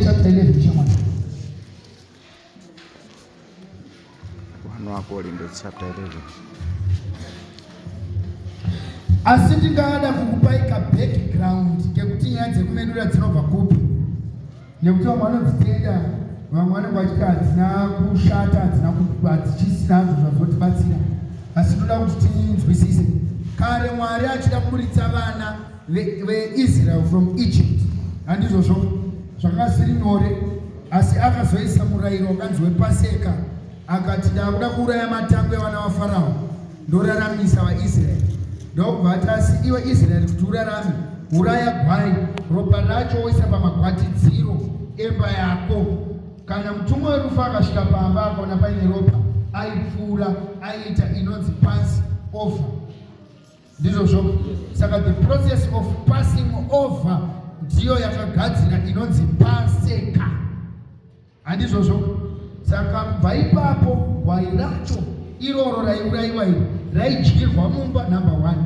chapter 11 shamwari Akorinde chapter 11. Asi ndingada kukupai ka background kekuti nyaya dzekumedura dzinobva kupi nekuti vamwe vanodzitenda vamwe vanenge vachiti hadzina kushata hadzina hadzichisina hazvo zvazotibatsira asi tinoda kuti tinzwisise kare mwari achida kuburitsa vana veisrael from egypt handizvozvo zvakanga zviri nyore asi akazoisa murayiro wakanzi wepaseka akati ndaakuda kuuraya matangwe evana vafarao ndoraramisa vaisraeri ndokubva ati asi iwe israeri kuti urarame uraya gwai ropa racho woisa pamagwatidziro emba yako kana mutumwe werufu akasvika pamba akaona paine ropa aipfuura aiita inonzi pasi over ndizvozvo saka the process of passing over ndiyo yakagadzira inonzi paseka handizvozvo saka kubva ipapo gwai racho iroro raiurayiwa iro raidyirwa mumba number one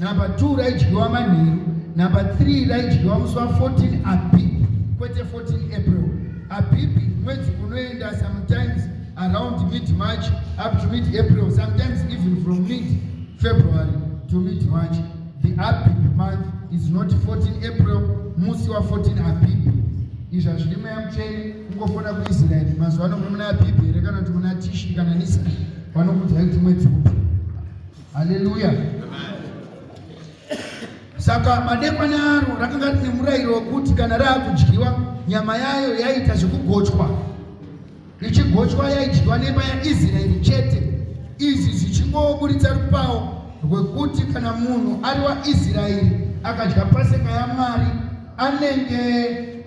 number two raidyiwa manheru number three raidyiwa musi wa 14 abib kwete 14 april abib mwedzi unoenda sometimes around mid march up to mid april sometimes even from mid february to mid march the abib month is not 14 april musi wa 14 abib izvi hazvidi mweya mutsvene kungofona kuisraeri mazuva ano muna abib here kana kuti muna tishi kana nisa vanokudzai kuti mwedzi upi haleluya saka madekwana aro rakanga rine murayiro wekuti kana raakudyiwa nyama yayo yaiita zvekugochwa Richigochwa yaidyiwa nemba yaIsraeri chete, izvi zvichingoburitsa rupawo rwekuti kana munhu ari waIsraeri akadya paseka yaMwari anenge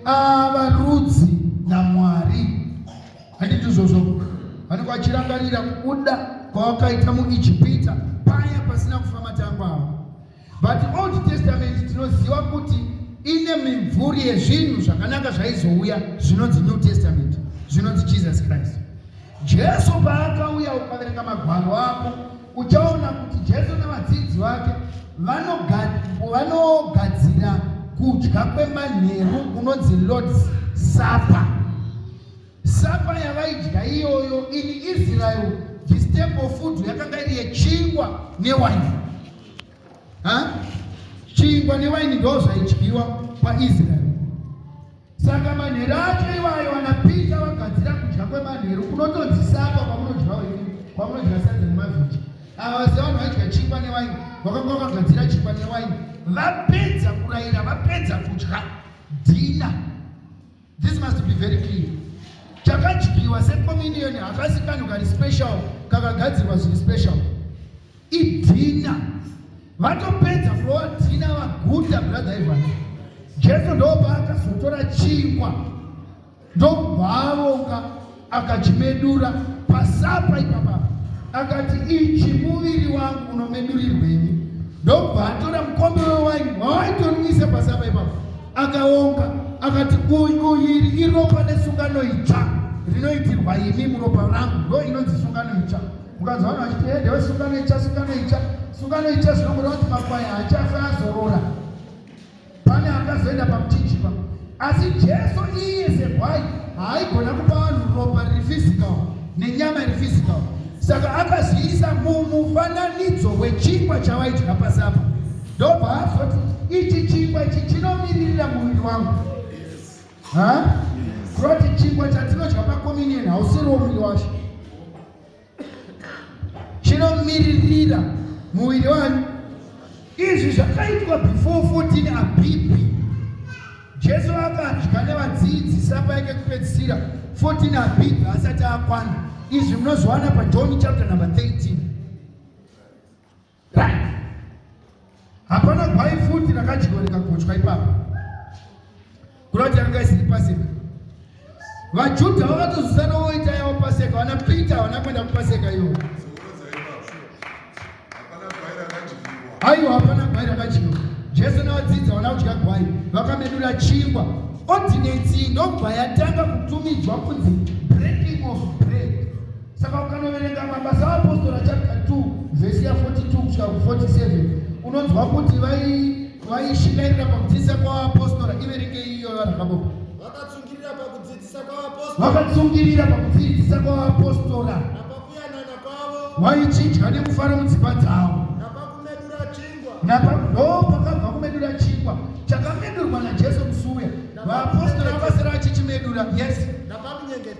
ava rudzi naMwari. Handiti izvozvo? Vanenge vachirangarira kubuda kwavakaita muIjipita paya pasina kufa matangwa avo. But Old Testament tinoziva kuti ine mimvuri yezvinhu zvakanaka zvaizouya zvinonzi New Testament zvinonzi Jesus Christ. Jesu paakauya ukaverenga magwaro ako uchaona kuti Jesu nevadzidzi vake vanogadzira kudya kwemanheru kunonzi Lord's Supper. Supper yavaidya iyoyo in Israel the staple food yakanga iri yechingwa newaini. ha chingwa newaini ndo zvaidyiwa paisraeri saka manheru acho iwayo vanapita vagadzira kudya kwemanheru kunotonzi sapa kwamunodyawo ini kwamunodya sadza nemavhiji ava vase vanhu vaidya chingwa newaini vakanga vakagadzira chingwa newaini vapedza kurayira vapedza kudya dhina This must be very clear. Chakadyiwa secommunion hakasi kanhu kari special kakagadzirwa zviri special. Idhina. Vatopedza kurowa dhina vaguta brother Ivan. Jesu ndopaakazotora chingwa ndokubva avonga akachimedura pasapa ipapa akati ichi muviri wangu unomedurirwenyi ndobva atora mukombe wewaini wawaitonwise pasapa ipapa akaonga akati uyiri iropa nesungano itsva rinoitirwa imi muropa rangu ndo inonzi sungano itsva mukanzi vanhu vachiti hede wesungano itsva sungano itsva sungano itsva zvinongoreva kuti makwai haachafe azorora Pane akazoenda pamutichipa, asi Jesu iye segwai haaigona kupa vanhu ropa riri physical nenyama iri physical, saka akazviisa mumufananidzo wechingwa chavaidya pasi apa, ndobva azoti ichi chingwa ichi chinomiririra muviri wangu kurati chingwa chatinodya pakominion hausiriwo muviri wacho chinomiririra muviri wani izvi zvakaitwa before 14 abipi jesu akadya nevadzidzi sapa yake kupedzisira 14 abipi asati akwana izvi munozowana pajohn chapter number 13 Hapana gwai futi rakadyiwa rikagochwa ipapo. Kurati yanga isiri paseka. VaJudha vakatozosana voita yavo paseka, vana Peter vana kwenda kupaseka iyo. Aiwa hapana gwai rakadyiwa. Jesu navadzidzi vana kudya gwai vakamedura chingwa ordinance ndobva yatanga kutumidzwa kunzi breaking of bread Saka ukanoverenga mabasa aapostora chapter 2 vhesi ya 42 kusvika ku 47 unonzwa kuti vaishingairira pakudzidzisa kwavapostora iverenge iyo vanhu vakaboka vakatsungirira pakudzidzisa kwavapostora vakatsungirira pakudzidzisa kwavapostora napakuyanana kwavo vaichinja nekufara mudzimba dzavo napakumedura chingwa napado pakabva kumedura chingwa chakamedurwa najesu musuya vapostora vakasara vachichimedura yes napakunyengedza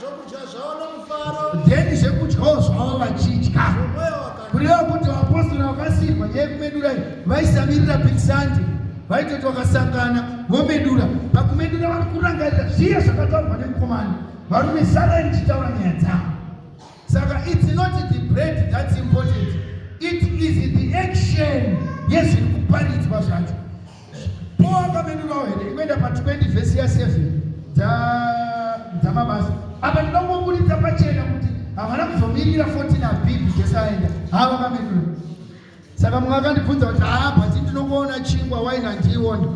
zvokudya zvavo nomufaro then zvekudyawo zvavo vachidya kureva kuti vapostora vakasiirwa nyaya yekumedura vaisamirira big sunday vaitoti vakasangana vomedura pakumedura vari kurangarira zviye zvakataurwa nemukomana varume sarai ndichitaura nyaya dzavo saka its not the bread thats important it is the action yezviri kuparidzwa zvacho Poakamedurawo here ikuenda pa 20 vhesi ya 7 dzamabasa apa ndinomuburitsa pachena kuti havana kuzomirira 14 abhibi jesu aenda haa vakamedura saka mumwe akandibvunza kuti haa ah, bhati ndinokuona chingwa waini handiiona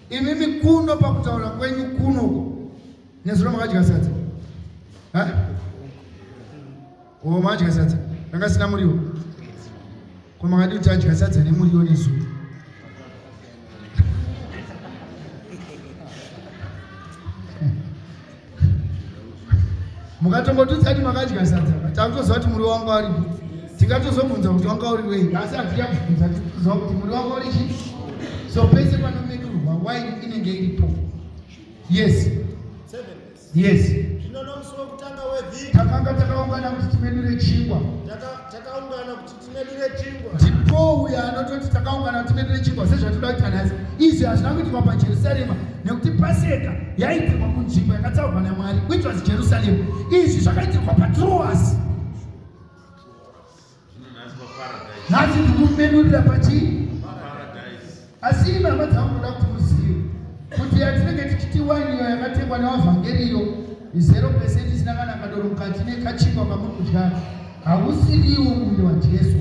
imimi kuno pakutaura kwenyu kuno nezuro makadya sadza Ko madya sadza ranga sina muriwo? Ko makadii kuti adya sadza nemuriwo nezuro? mukatombotudza kuti makadya sadza takutoziva kuti muri wanga uripo tingatozobvunza kuti wanga uri wei asi hatiya kubvunza tiziva kuti muri wanga uri chii so pese panomedurwa waini inenge iripo yes Seven. Yes. Zvino nomusi wokutanga wevhiki. Takanga takaungana kuti timedure chingwa. Takaungana kuti timedure chingwa. Ndipo uya anototi takaungana kuti timedure chingwa sezvatinoda kuita nhasi. Izvi hazvina kuitwa paJerusarema nekuti Paseka yaitirwa kunzvimbo yakatsaurwa naMwari which was Jerusalem. Izvi zvakaitirwa paTroas. nhasi ndikumenurira pachii asi imi hama dzangu ndoda kuti muzive kuti yatinenge tichiti waini iyo yakatengwa nevavhangeri iyo izero pesenti isina kana kadoro mukati nekachingwa kamuri kudyara hausiriwo muviri wajesu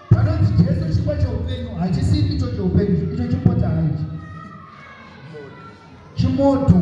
panonzi jesu chingwa cheupenyu hachisi icho cheupenyu icho chipota haichi chimoto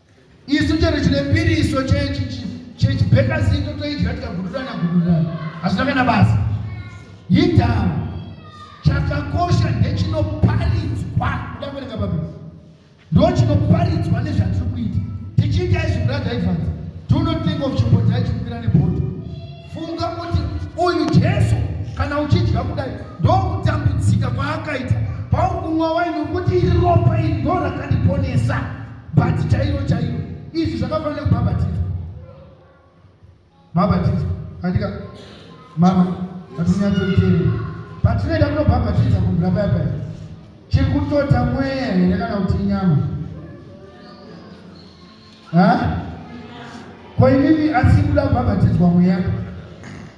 Isu chero chine mbiriso chechibhekazito toidya tikagudurana gudurana hazvina kana basa. Yidhawo chakakosha ndechinoparidzwa kuda kuverenga Bhaibheri ndochinoparitswa nezvatiri kuita tichiita izvi brother Evans do not think of chimbodza chikukwira nebhodhi funga kuti uyu Jesu kana uchidya kudai ndokutambudzika kwaakaita paukumwa waini kuti iri ropa iri ndorakandiponesa bhati chairo chairo izvi zvakafanira kubhabhatidzwa bhabhatidzwa andika mama atinyatsoiteere but tinoita kunobhabhatidza kubvira paya paya chiri kutota mweya here kana kuti inyama ha ko imimi asi kuda kubhabhatidzwa mweya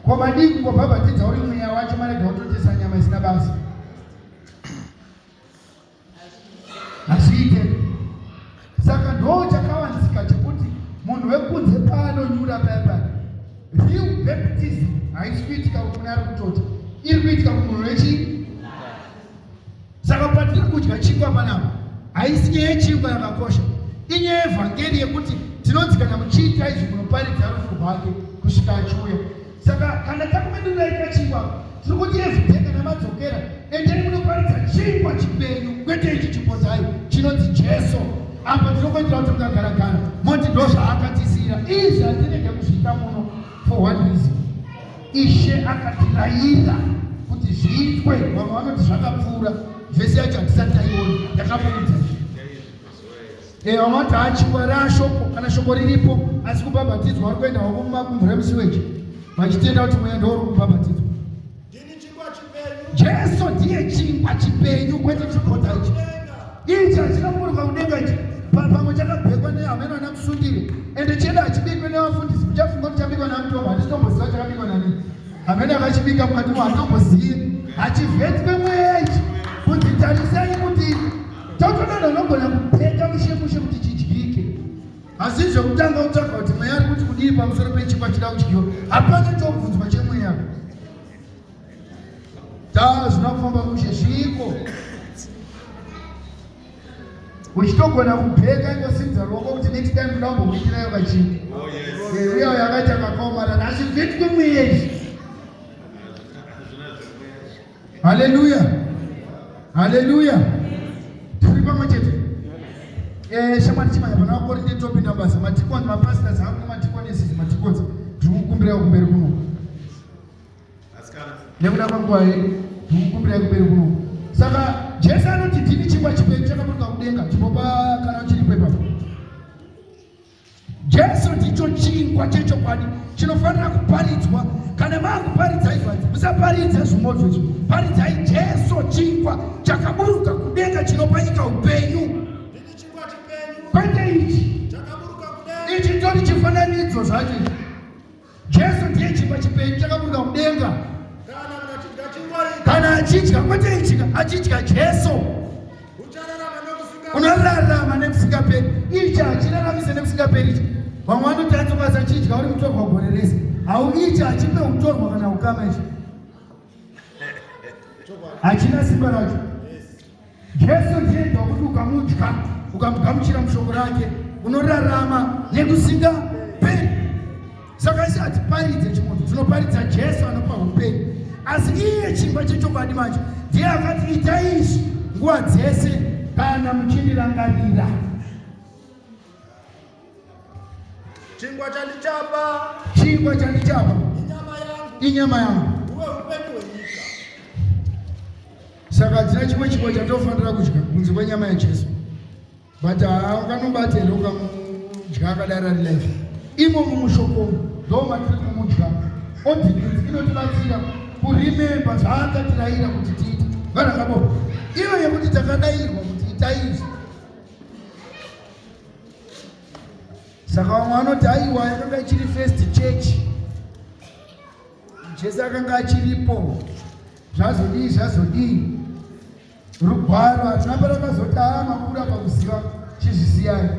ko madii kungobhabhatidza uri mweya wacho marega kutotesa nyama isina basa hazviite saka ndoo chakawanzika chekuti munhu wekunze paanonyura paya paya real baptism haisi kuitika kune ari kutota iri kuitika kumunhu wechii saka patiri kudya chingwa panapa haisi nyaya yechingwa yakakosha inyaya yevhangeri yekuti tinonzikana muchiita izvi munoparidza rufu rwake kusvika achiuya Saka kana takuvedurai kachingwa tiri kuti evhidhe kana madzokera endeni munoparidza chingwa chipenyu kwete ichi chipozai chinonzi Jesu. Apa tinokuitira kuti mukagara gara moti ndo zvaakatisiyira izvi hatirege kuzviita muno for one reason. Ishe akatirayira kuti zviitwe vamwe vanoti zvakapfuura vese yacho hatisati taiona ndakamuudza Eh, vamwe vati haa chingwa raashoko kana shoko riripo asi kubhabhatidzwa vari kuenda hwako mumakumvura emusiweji vachitenda kuti mweya ndouri kubhabhatidzwa jesu ndiye chingwa chipenyu kwete chikota ichi ichi hachinakuburwa kudenga ichi pamwe chakabhekwa nehameno ana kusundire ende cheda hachibikwe nevafundisi kuchafunga kuti chabikwa namutombo handitomboziva chakabikwa nani hameno akachibika mukati mo handitombozive hachivetwe mweya ichi kuti tarisai kuti Tautonana unogona kupeka mushe mushe kuti chidyike. Asi zvekutanga utsvaga kuti mweya ari kuti kudii pamusoro pechikwa chida kudyiwa. Hapana chobvunzwa chemweya. Taa zvina kufamba mushe zviiko. Uchitogona kupeka ingosinza ruoko kuti next time kuda kumbokuitira yoga chii. Oh yes. Uya uya akaita makaomara asi vhitwe mweya izvi. Haleluya, haleluya, tiri pamwe chete. Eh, shamwari chimanya pana vakorinde topinda basa matikoni mapastas hangu nematikoni esisi matikoni tiri kukumbira kumberi kuno nekuda kwanguva yedu tiri kukumbira kumberi kuno saka jesu anoti ndini chingwa chipei chakaburuka kudenga chimbopa kana chiripo ipapo Jesu ndicho chingwa chechokwadi chinofanira kuparidzwa. Kana maakuparidza izvadzi, musaparidze zvimozvo izvi, paridzai Jesu chingwa chakaburuka kudenga chinopa nyika upenyu, kwete ichi. Ichi ndori chifananidzo zvacho. Jesu ndiye chingwa chipenyu chakaburuka kudenga. Kana achidya kwete ichika achidya Jesu. Unorarama nekusingaperi. Ichi hachiraramise nekusingaperi ichi. Vamwe vanoti atokasa chidya uri mutorwa gore rese. Hauichi hachipe utorwa kana ukama ichi. Hachina simba racho. Jesu ndiye ndo kuti ukamudya ukamugamuchira mushoko rake unorarama nekusinga peri. Saka isi hatiparidze chimunhu, tinoparidza Jesu anopa upenyu. Asi iye chimba chechokwadi manje ndiye akati itai izvi nguva dzese kana muchindirangarira. Chingwa chandichapa. Chingwa chandichapa. Inyama yangu. Inyama yangu. Uwe upenyu hwenyika. Saka dzina chimwe chingwa chatofanira kudya kunze kwenyama yaJesu. But ukanobata here ukamudya akadaro ari life. Imo mumushoko ndomatiri kumudya. Ordinance inotibatsira kurememba zvaakatiraira kuti tiite. Vanhu vakaboko. Iyo yekuti takadairwa kuti itaizvi. saka vamwe vanoti aiwa yakanga ichiri first church jesu akanga achiripo zvazodii zvazodii rugwaro hatina parakazoti haa makura pakuziva chizvisiyai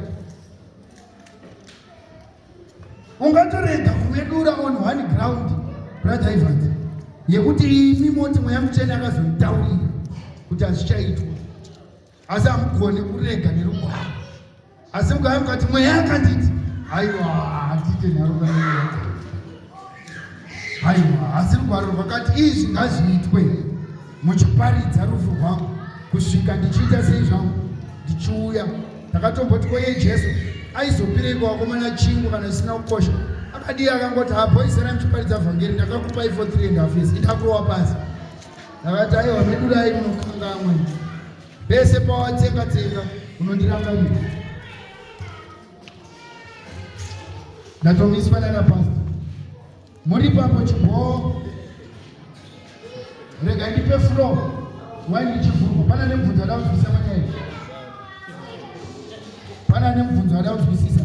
ungatorega kuvedura on one ground brother evans yekuti imi moti mweya muchena akazonitaurira kuti hazvichaitwa asi hamugoni kurega nerugwaro asi mugave mukati mweya akanditi haiwa handite nharuka haiwa asi rugwaro rwakati izvi ngazviitwe muchiparidza rufu rwangu kusvika ndichiita sei zvangu ndichiuya ndakatomboti koye jesu aizopireiko wakomana chingu kana zvisina kukosha akadii akangoti hapo izera muchiparidza vhangeri ndakakupai for three and half years idakurowa pasi Ndakati aiwa medu dai munokangamwe pese pawatsenga tsenga unondirangarira. Ndatomiswa nana pasta muri papo chibhoo rega ndipe flow wai ndichivhurwa pana nemubvunzo ada kuzwisisa panyaya pana nemubvunzo ada kuzwisisa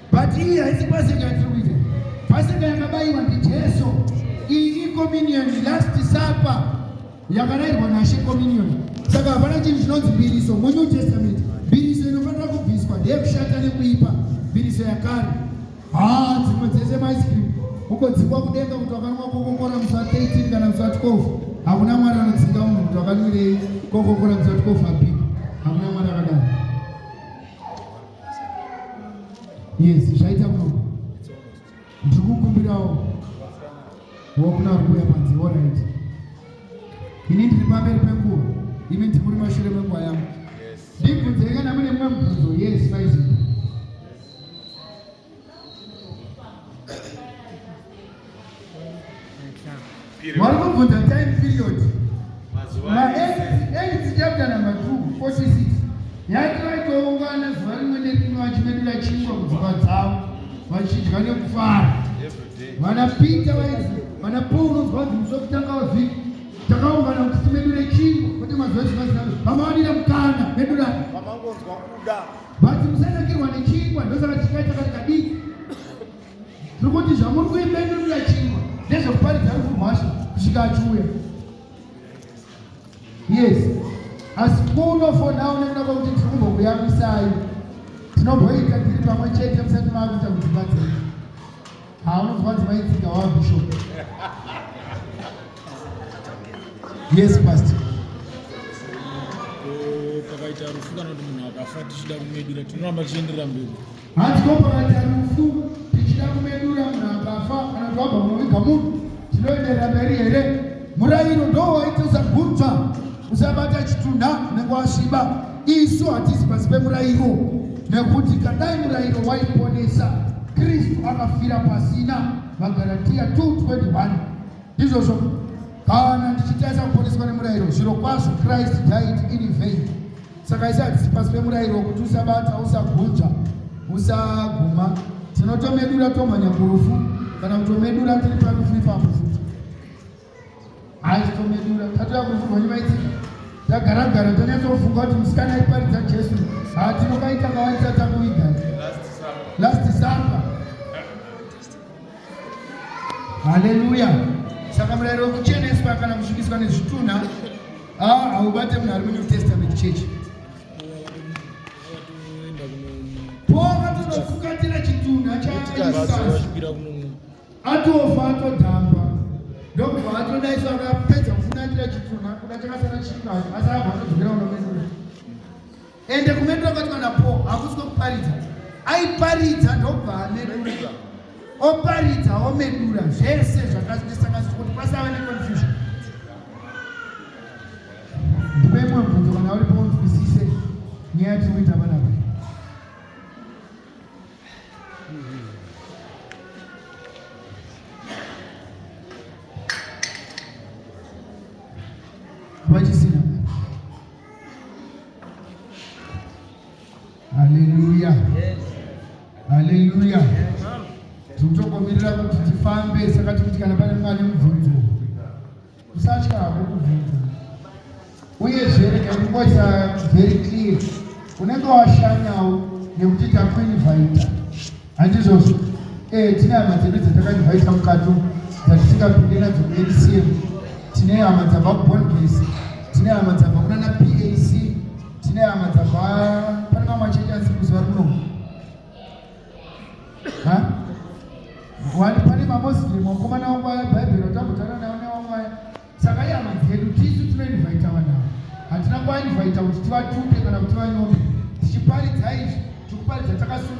But iyi haisi paseka yatiri kuita. Paseka yakabayiwa ndiJesu. Iyi ikommunion, last supper yakarayirwa naShe communion. Saka hapana chinhu chinonzi mbiriso muNew Testament. Mbiriso inofanira kubviswa ndeyekushata nekuipa. Mbiriso yakare. Haa dzimwe dzese maice cream ukodzikwa kudenga kuti wakanwa kokokora musi wa 13 kana musi wa 12 hakuna mwari anodzinga munhu kuti wakanwirei kokokora musi wa 12 api hakuna mwari akadaro Yes, zvaita kuno. Ndiri kukumbirawo wokuna uri kuuya panze orit. Ini ndiri pamberi penguva, imi ndiri muri mashure menguva yangu. Ndibvunzei kana mune mumwe mubvunzo. Yes, faizi. vari kubvunza time period maedzi chapter number 2 46 yati vaitoungana zuva rimwe nerimwe vachimedura chingwa kudzimba dzavo vachidya nekufara vanapita vaizi vana paul unonzwa kuti musi wekutanga wavhiki takaungana kuti timedure chingwa kwete mazuva chivazaa vamawanira mukana medurani But musanakirwa nechingwa ndosaka chikaita kati kadiki. Tiri kuti zvamuri kuibenurira chingwa ndezvekuparidza rufu rwacho kusvika achiuya. Yes. Asi kunofonawo nekuda kwekuti tiri kumbokuyamisai. Tinomboita tiri pamwe chete musati maakuita kuti vadzivi. Haa unonzwa kuti vaitsika wa bishop. Yes pastor. Pakaita rufu kana kuti munhu akafa tichida kumedura tinoramba tichienderera mberi. Hanzi ko pakaita rufu tichida kumedura munhu akafa kana kuti wabva munoviga munhu tinoenderera mberi here? Murayiro ndowaita usagutsa usabata chitunha unenge wasviba. Isu hatisi pasi pemurayiro, nekuti kadai murayiro waiponesa, Kristu akafira pasina. Magaratiya 2:21 ndizvozvo. Kana ndichitaisa kuponeswa nemurayiro, zviro kwazvo Christ died in vain. Saka isi hatisi pasi pemurayiro wekuti usabata, usagunja, usaguma. Tinotomedura tomhanya kurufu kana kutomedura tiri parufu ipapo. aistomedura tatu yakuvhurwa nemaitsika tagara gara tanyatsofunga kuti musikana aiparidza jesu haa tinokaita kawaisa takuiga last supper haleluya saka murayiro wekucheneswa kana kusvikiswa nezvitunha ah, haubate munhu ari munew testament church po akatonofuka tira chitunha chaaisaa atofa atodhamba ndokubva atodaiso akapedza kufunatira chipfunha kuda chakasara chika asi abva atodzokera unomedura ende kumedura kwati kana po hakusi kwekuparidza aiparidza ndokubva amedura oparidza omedura zvese zvakazvisanganiswa kuti pasava neconfusion ndipe imwe bvunzo kana uri paunzwisise nyaya tiri kuita vanapa Haleluya, haleluya. Tinotogomirira kuti tifambe, saka tikuti kana pane mwana mubvunzo Kusatya hako kubvunza. Uyezve rega kungoisa very clear. Unenge washanyawo nekuti takuinvita. Handizvozvo. Eh, tine hama dzedu dzatakainvita mukati umu dzatisingapinde nadzo kuNCM. Tine hama dzabva kuBondbase. Tine hama dzabva kunana PAC. Tine hama dzabva pane mamwe achete asi kuzuva rino. wati pane mamuslim wakomana wangu aya bhaibheri watambotana nawo newangu aya saka ihama dzedu tisu tinoinvaita vanavo hatina kuvainvaita kuti tivatupe kana kuti vanyome tichiparidza izvi tikuparidza takasununga